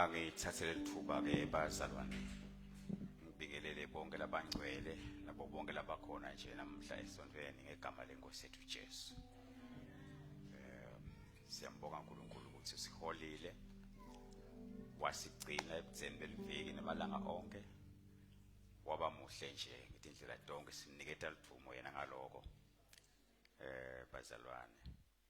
Angithathe leli thuba ke bazalwane ngibingelele bonke labangcwele nabo bonke labakhona nje namhla esontweni ngegama lenkosi yethu Jesu. Eh siyambonga uNkulunkulu ukuthi siholile wasigcina ebudzeni beliviki namalanga onke waba muhle nje ngithi indlela donke siniketa livumo yena ngaloko eh bazalwane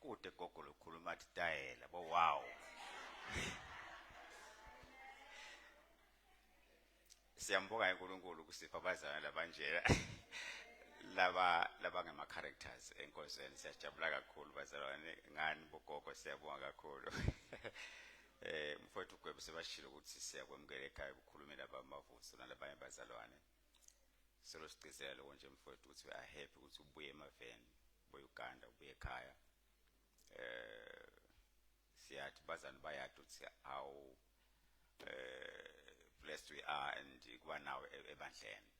Kude gogo lokhuluma athi tayela bo wow. Siyambonga uNkulunkulu kusipha abazalwane labanjela. laba laba ngama characters enkonzweni siyajabula kakhulu bazalwane ngani bogogo siyabonga kakhulu eh mfowethu gwebe sebashilo ukuthi siyakwemukela ekhaya ukukhulumela abamavuso nalabanye bazalwane Solo sigcizela lokho nje mfowethu ukuthi we are happy ukuthi ubuye emaveni, ubuye uGanda, ubuye ekhaya. Eh siyathi bazani bayathi ukuthi how eh blessed we are and kuba nawe e-, ebandleni.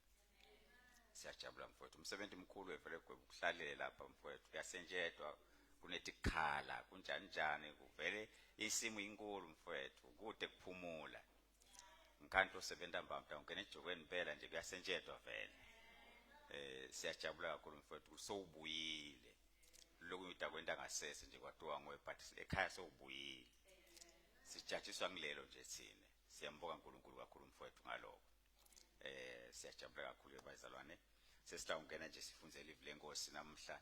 Siyajabula mfowethu. Umsebenzi mkhulu evele kuhlalela lapha mfowethu. Uyasenjetwa kunetikhala kunjani njani kuvele isimu inkulu mfowethu kude kuphumula. ngikhanti osebenza mbamta ungena ejokweni impela nje kuyasentshedwa vele eh siyajabula kakhulu mfowethu sowubuyile lokhu ngida kwenta ngasese nje kwatiwa ngowe but ekhaya sowubuyile sijatshiswa ngilelo nje thina siyambuka uNkulunkulu kakhulu mfowethu ngaloko eh siyajabula kakhulu bazalwane sesila ungena nje sifunze live lenkosi namhla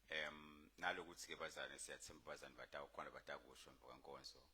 em nalokuthi ke bazalwane siyathemba bazalwane batawu khona batakusho mvuka nkonzo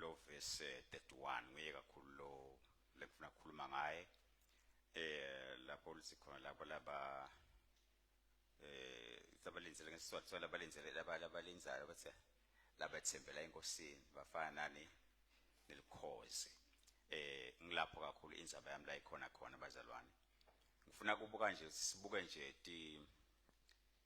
lo verse 31 nguye kakhulu lo lekufuna kukhuluma ngaye eh lapho lithi khona lapho laba eh sabalenzele ngesizathu so labalenzele laba labalenzayo bathi labathembela enkosini bafana nani nelikhozi eh ngilapho kakhulu inzaba yami la ikhona khona bazalwane ngifuna kubuka nje sibuke nje ti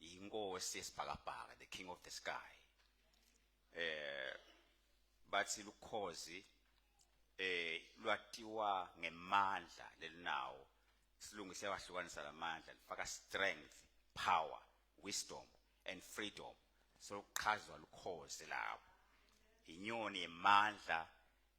yinkosi yesibhakabhaka the king of the sky eh bathi lukhozi eh lwatiwa ngemandla lelinawo silungise wahlukanisa lamandla lifaka strength power wisdom and freedom sokuchazwa lukhozi lapho inyoni yemandla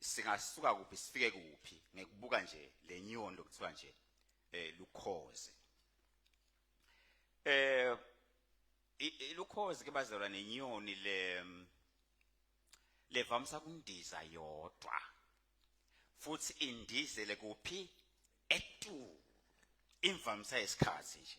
singasuka kuphi sifike kuphi ngekubuka nje lenyoni lokuthiwa nje eh lukhoze eh ilukhozi ke bazalwa nenyoni le levamsa kundiza yodwa futhi indizele kuphi etu imvamsa yesikhathi nje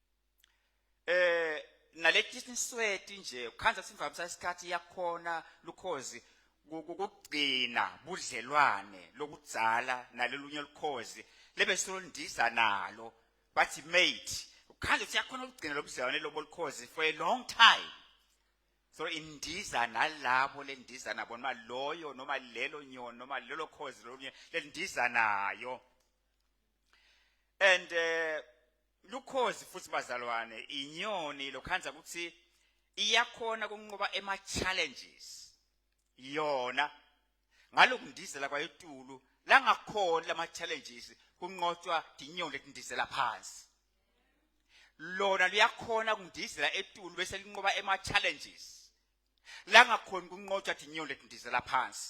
eh naletinsweti nje ukhanza simvamisa isikhathi yakhona lukhozi kugcina budlelwane lokudzala nalolunye olukhozi lebe silondisa nalo bathi mate ukhanza ukuthi yakhona ukugcina lobudlelwane lobolukhozi for a long time so indiza nalabo lendiza nabo noma loyo noma lelo nyoni noma lelo khozi lolunye lendiza nayo and uh, lukhozi futhi bazalwane inyoni lokhanza ukuthi iyakhona kunqoba ema challenges yona ngalokundizela kwayetulu langakhona lama challenges kunqotshwa dinyoni letindizela phansi lona liyakhona kundizela etulu bese linqoba ema challenges langakhona kunqotshwa dinyoni letindizela phansi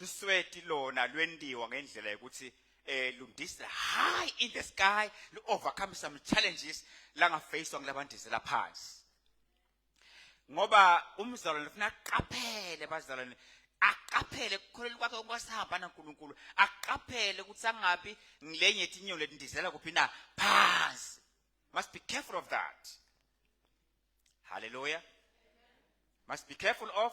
lusweti lona lwentiwa ngendlela yokuthi eh lundisa high in the sky lu overcome some challenges langa face ngilabandizela phansi ngoba umzalwane ufuna aqaphele bazalwane aqaphele kukholelwa kwakhe okwasihamba naNkulunkulu aqaphele ukuthi angabi ngilenye itinyo letindizela kuphi na phansi must be careful of that hallelujah must be careful of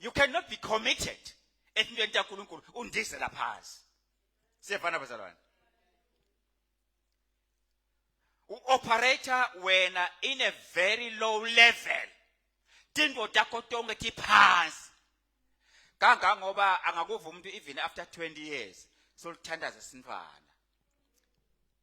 you cannot be committed entweni kaNkuluNkulu undizela phansi siyafana bazalwane u operator wena in a very low level tinto takho tonke tiphansi kangangoba angakuva umuntu even after 20 years solithandaza sinfana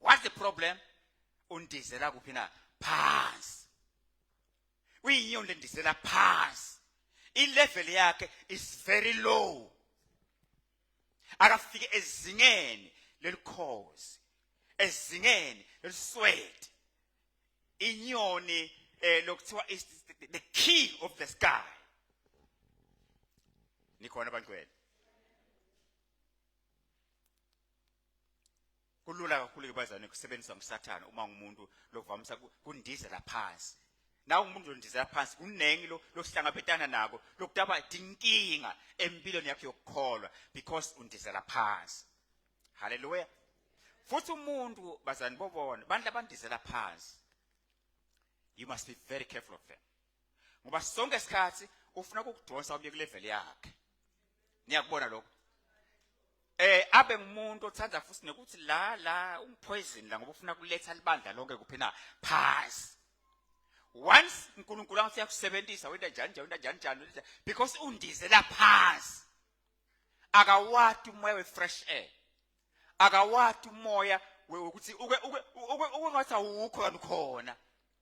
what's the problem undizela kuphi na phansi uyinyondo endizela phansi ilevel yakhe is very low akafike ezingeni lelikhozi ezingeni leliswede inyoni eh lokuthiwa is the king of the sky nikhona bantwana kulula kakhulu bazane kusebenzisa umsathane uma ngumuntu lokuvamisa kundizela phansi nawe umuntu ondizela phansi kuningi lo lokuhlangabetana nako lokutaba inkinga empilweni yakhe yokukholwa because undizela phansi haleluya futhi umuntu bazani bobona abantu abandizela phansi you must be very careful of them ngoba sonke isikhathi ufuna ukukudonsa ubuye kulevel yakhe niyakubona lokho eh abe ngumuntu othanda futhi nokuthi la la ungipoison la ngoba ufuna kuletha libandla lonke kuphi na phansi once uNkulunkulu angathi uyakusebenzisa wenda njani njani wenda njani njani because undizela phansi akawati umoya we fresh air akawati umoya ukuthi uke uke uke ungathi awukho kanukhona